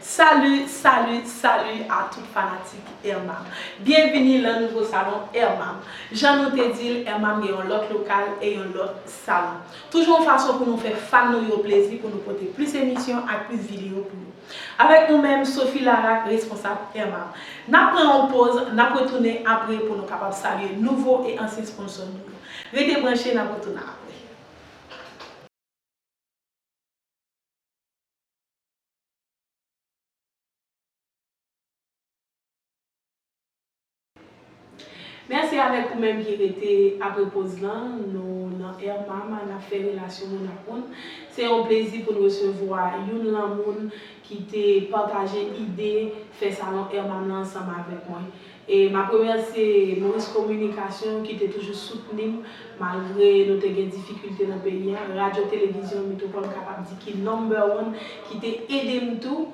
Salut salut salut a tout fanatik Erma byenvini lan nouvo salon Erma jan nou te dil Erma gen yon lòt lokal e yon lòt salon toujou yon fason pou nou fè fan nou yo plezi pou nou pote plis emisyon ak plis video pou nou avèk nou menm Sophie Laraque responsab Erma nap pran yon poz nap retounen apre pou nou kapab salye nouvo e ansyen sponsò nou yo rete branche nap retounen apre. Mèsi avèk ou menm ki rete apre poz lan, nou nan Air Mama nap fè relasyon moun ak moun. Se yon plezi pou n resevwa youn lan moun ki te pataje ide fè salon Air Mama ansanm avèk mwen. E m ap remèsye Maurice Communication ki te toujou soutni m malgre nou te gen difikilte nan peyi an, Radyo Televizyon Mitwopòl m kapab di ki number one ki te ede m tou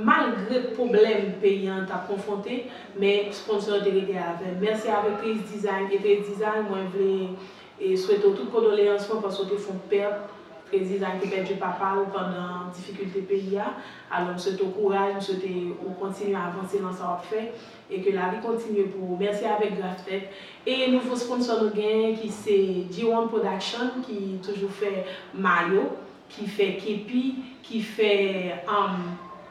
malgre pwoblèm peyi an t ap konfwonte men sponsor yo te rete avè m. Mèsi avèk Trace Design e Trace Design mwen vle swete w tout kondoleyans mwen paske w te fon pèt, Trace Design te pèdi papa l pandan difikilte peyi a alò m swete w kouraj, m swete w kontinye avanse nan sa w ap fè. E ke lavi kontinye pou ou. Merci avek gras fèt. E nouvo sponsor nou genyen ki se G-one production ki toujou fè mayo, ki fè kepi, ki fè humm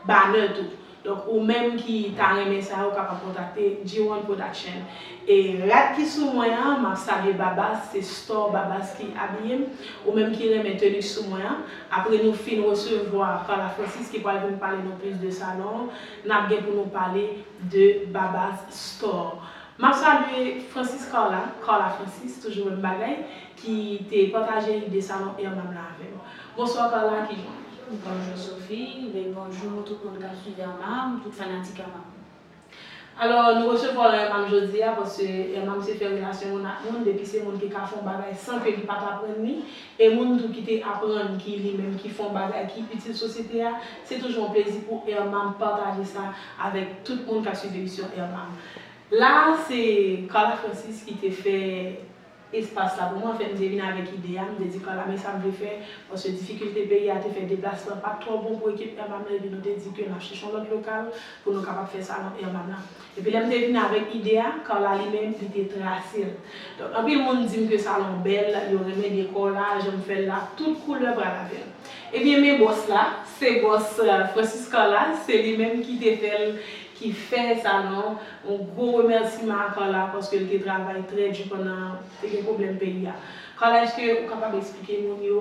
banner tou. Donk ou menm ki ta renmen sa ou kapab kontakte G-one production. E rad ki sou mwen an map salye Babas, se store Babas ki abiyem. Ou menm ki renmen tenue sou mwen an. Apre nou fin resevwa Carla Francis ki pral vin pale nou plis de salon an. Nap gen pou nou pale de Babas Store. Map salye Francis Carla, Carla Francis, toujou menm bagay, ki te pataje ide salon Irmam la avèm. Bonsoir Carla, ki jan li? Bonjour Sophie, e bonjour tout moun kap swiv Irmam, tout fanatik Irmam. Alors nou resevwa w Irmam jodia paske Irmam se fè relasyon moun ak moun, depi se moun ki ka fè yon bagay san ke li pat aprann li, e moun tou ki te aprann ki li menm ki fè yon bagay ki itil sosyete a, se toujou yon plezi pou Ermam pataje sa avèk tout moun kap swiv emisyon Ermam. La a se Carla Francis ki te fè espas la pou mwen, anfen m te vin avèk ide a, m te di Carla men sa m vle fè, paske difikilte peyi a te fè deplasman pat twò bon pou ekip Ermam nan epi nou te di ke nap chèche yon lòt lokal pou nou kapab fè salon Ermam la. Epi lè m te vin avèk ide a, Carla li menm, li te trase l. Donk anpil moun di m ke salon bèl, yo renmen dekò la, jan m fè l la, tout koulè pral avè l. Ebyen men bòs la, se bòs Francis Carla, se li menm ki te fè l, ki fè salon an. Yon gwo remèsiman a Carla paske l te travay trè di pandan te gen pwoblèm peyi a. Carla èske ou kapab esplike moun yo,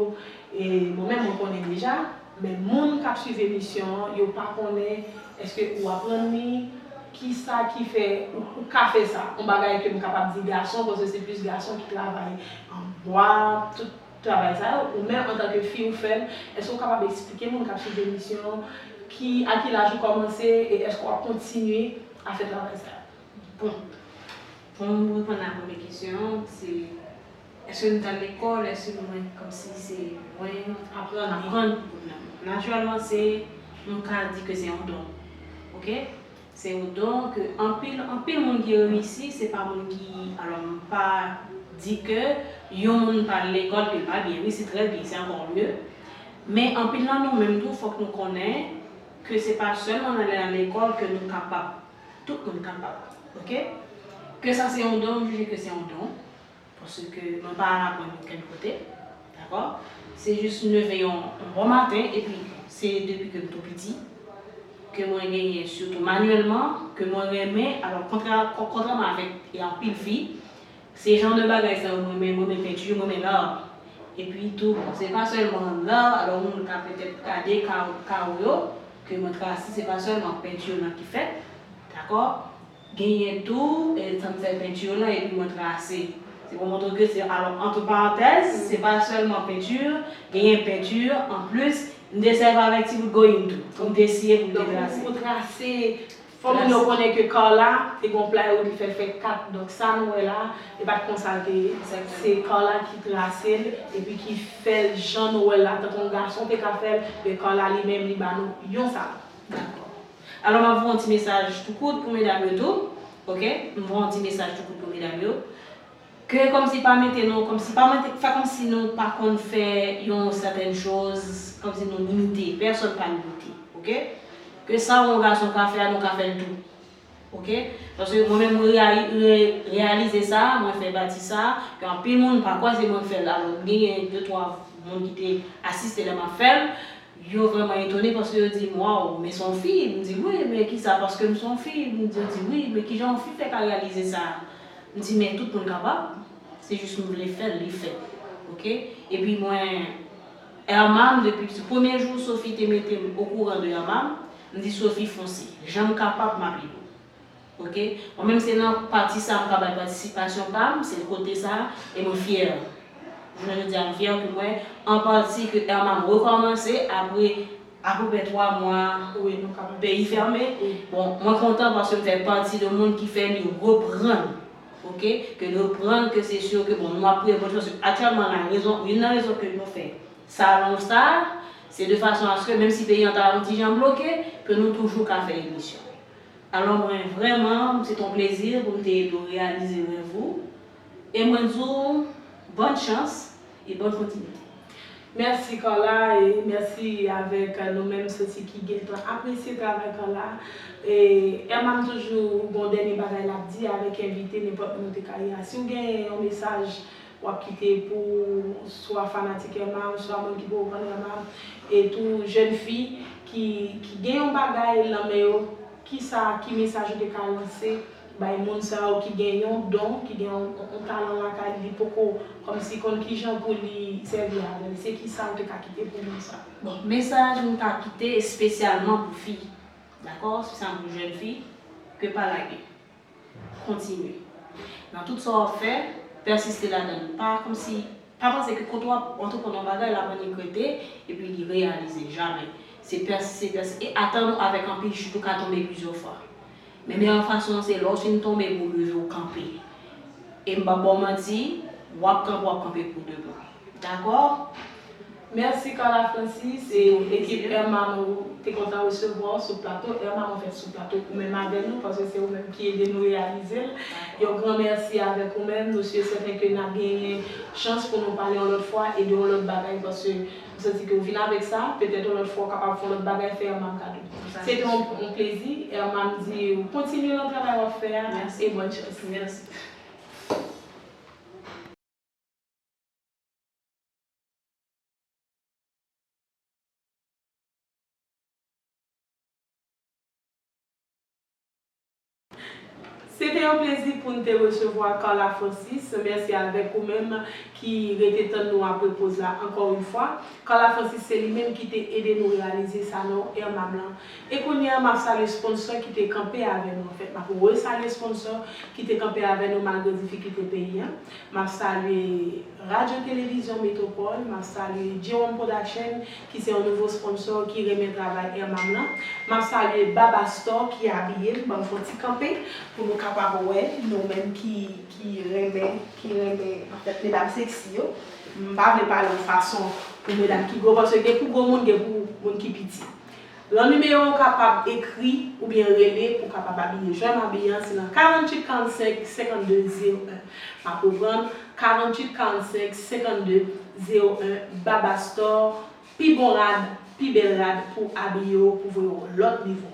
bon menm mwen konnen deja, Men moun kap swiv emisyon an yo pa konnen eske ou aprann li kisa ki fè ou ka fè sa yon bagay ke m kapab di gason paske se plis gason ki travay an bwa tout travay sa yo ou menm antanke fi ou fèl eske ou kapab esplike moun kap swiv emisyon an ki a ki laj ou kòmanse e eske wap kontinye a fè travay sa yo. Bon, pou m reponn a premye kesyon an, se Eske nou tal lekòl eske nou mwen kòmsi se mwen aprann aprann pou kounye a natirèlman se nou ka di ke se yon don ok se yon don ke anpil anpil moun ki reyisi se pa moun ki alò m pa di ke yon moun pa al lekòl ke l pa byen wi se trè byen se ankò mye men anpil nan nou menm tou fòk nou konnen ke se pa sèlman nan lè nan lekòl ke nou kapab tout moun kapab ok ke sa se yon don m jije ke se yon don Paske mwen pa al aprann okenn kote. Dakò? Se jis m leve yon bon maten epi se depi ke m tou piti ke mwen genyen sitou manyèlman ke mwen renmen alò kontrè kontrèman avèk anpil fi se jan de bagay sa yo m renmen m renmen penti m renmen l'art epi tou bon se pa sèlman l'art alò moun ka petèt gade kawo kawo yo ke mwen trase se pa sèlman penti yo nan ki fèt dakò. Genyen tou, lè m fè penti yo la epi mwen trase, se pou montre ke se alò entre parenthèses, se pa sèlman penti, genyen penti, an plis, m te sèvi avèk ti bout goyim tou, pou m te siye, pou m te trase. Donk, pou trase, fò moun yo konnen ke Carla te gen yon playo li fè fèk 4, donk sa nou wè la, e pa t konsa l te ye, se Carla ki trase l, epi ki fè l jan nou wè l la, tankou yon gason te ka fè l, men Carla li menm li ba nou yon salon. Dakò. Alò map voye yon ti mesaj tou kout pou medam yo tou ok m voye yon ti mesaj tou kout pou medam yo ke kòmsi pa mete nou kòmsi pa mete fè kòmsi nou pa konn fè yon sètèn choz kòmsi nou limite pèsòn pa limite ok ke sa yon gason ka fè a nou ka fèl tou ok paske mwen menm mwen reyalize sa mwen fè pati sa ke anpil moun pa kwè se mwen k fèl alò m genyen de twa moun ki te asiste lè map fèl Yo vrèman etone paske yo di m, Waw, men s on fi? M di, Wi, men kisa? Paske m s on fi. M di, Yo di, Wi, men kijan on fi fè ka reyalize sa? M di, Men tout moun kapab, se jis m vle fè l, li fèt. Ok? Epi mwen, Erma, m depi piti, premye jou Sophie te mete m okouran de Erma, m di, Sophie, fonse. Jan m kapab, m ap ede w. Ok mwen menm se nan pati sa mka bay patisipasyon pam se kote sa e mwen fyè jounen jodia mfyè ke mwen an pati ke Herman rekòmanse apre apeprè 3 mwa peyi fèmen bon mwen kontan paske mfè pati de moun ki fè li reprann ok ke li reprann ke se sur ke bon nou ap priye pou li paske aktyèlman la rezon youn nan rezon ke nou fè salon sa se de fason aske menm si peyi an ta yon ti jan bloke ke nou toujou ka fè emisyon. Alò mwen vrèman se t on plezi pou m te ede w reyalize rèv ou e mwen di w bòn chans e bòn kontinite. Mèsi Carla e mèsi avèk nou menm soti ki gentan apresye travay Carla e Herman m toujou gon dènye bagay l ap di avèk envite nenpòt moun ou te ka ye a si w gen yon mesaj Wap kite pou swa fanatik Emma ou swa moun ki poko konn Emma e tou jèn fi ki ki gen yon bagay lan men yo kisa ki mesaj ou te ka lanse bay moun sa yo ki gen yon don ki gen yon talan lakay li li poko kòmsi konn kijan pou li sèvi avèl se kisa ou te ka kite pou moun sa. Bon mesaj m ta kite espesyalman pou fi dakò se sa m pou jèn fi ke pa lage. Kontinye nan tout sa w ap fè, pèsiste ladan l. Pa kòmsi, pa panse ke kote w ap antreprann yon bagay, l ap annik rete epi li reyalize. Jamè. Se pèsiste, pèsiste e atann ou avèk anpil chit, ou ka tonbe plizyè fwa. Men meyè fason an se lè w fin tonbe pou w leve w kanpe. E m p ap ba w manti, w ap kanpe, w ap kanpe pou de bon. Dakò? Merci Carla Francis e ekip Erma nou te kontan resevwa w sou plato Erma mwen fèt sou plato ou menm avè nou paske se ou menm ki ede nou reyalize l yon gran mèsi avèk ou menm nou si e sèten ke nap genyen chans pou nou pale yon lòt fwa e de yon lòt bagay paske m santi ke ou vin avèk sa petèt yon lòt fwa ou kapab fè yon lòt bagay fè Erma m kado se te yon plezi Erma m di w kontinye nan travay wap fè a e bòn chans. Se te yon plezi pou n te resevwa Carla Francis. Mèsi avèk ou menm ki rete tann nou apre poz la ankò yon fwa. Carla Francis se li menm ki te ede nou reyalize Salon Irma Blanc. E kounye a, m ap salye sponsò ki te kanpe avè nou. Anfèt, m ap resalye sponsò ki te kanpe avè nou malgre difikilte peyi an. M ap salye. Radyo Televizyon Metropole, map salye Jerome Production ki se yon nouvo sponsor ki renmen travay Ermam lan. Map salye Baba Store ki abiye m, banm fon ti kanpe pou nou kapab wè nou menm ki ki renmen ki renmen anfèt medam sexy yo. M pa vle pale yon fason pou medam ki gwo paske gen pou gwo moun gen pou moun ki piti. Lan nimeyo ou kapab ekri oubyen rele pou kapab abiye jan m abiye an se lan 48 45 52 01 m ap reprann 48 45 52 01 Baba Store pi bon rad pi bèl rad pou abiye w pou voye w lòt nivo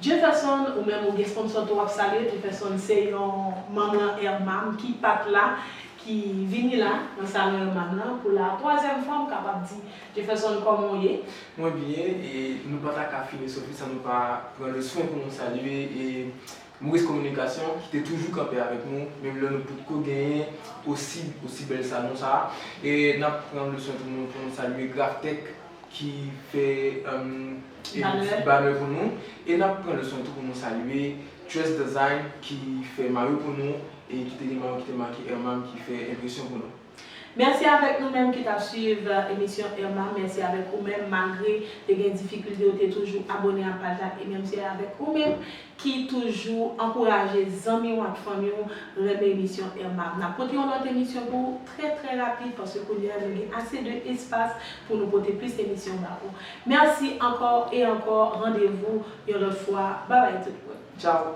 Jefferson ou menm ou gen sponsò tou w ap salye Jefferson se yon manm lan Hermam ki pat la ki vini la nan salon Hermam lan pou la twazyèm fwa m kapab di. Jefferson kòman w ye? Mwen byen e nou pa ta ka fini Sofi san nou pa pran le swen pou nou salye e Maurice Communication ki te toujou kanpe avèk nou menm lè nou potko genyen osi osi bèl salon sa e n ap pran le swen tou nou pou nou salye Graphtec ki fè Banè banè pou nou e n ap pran le swen tou pou nou salye Tres Design ki fè mayo pou nou e ki te gen mayo ki te make Hermam ki fè enpresyon pou nou. Mèsi avèk nou menm ki tap swiv emisyon Irma mèsi avèk ou menm malgre te gen difikilte ou te toujou abone a paj la e mèmsi avèk ou menm ki toujou ankouraje zanmi w ak fanmi w renmen emisyon Irma nap pote yon lòt emisyon pou ou trè trè rapid paske kounye a nou gen ase de espas pou nou pote plis emisyon ba ou mèsi ankò e ankò randevou yon lòt fwa babay tout moun tchaw.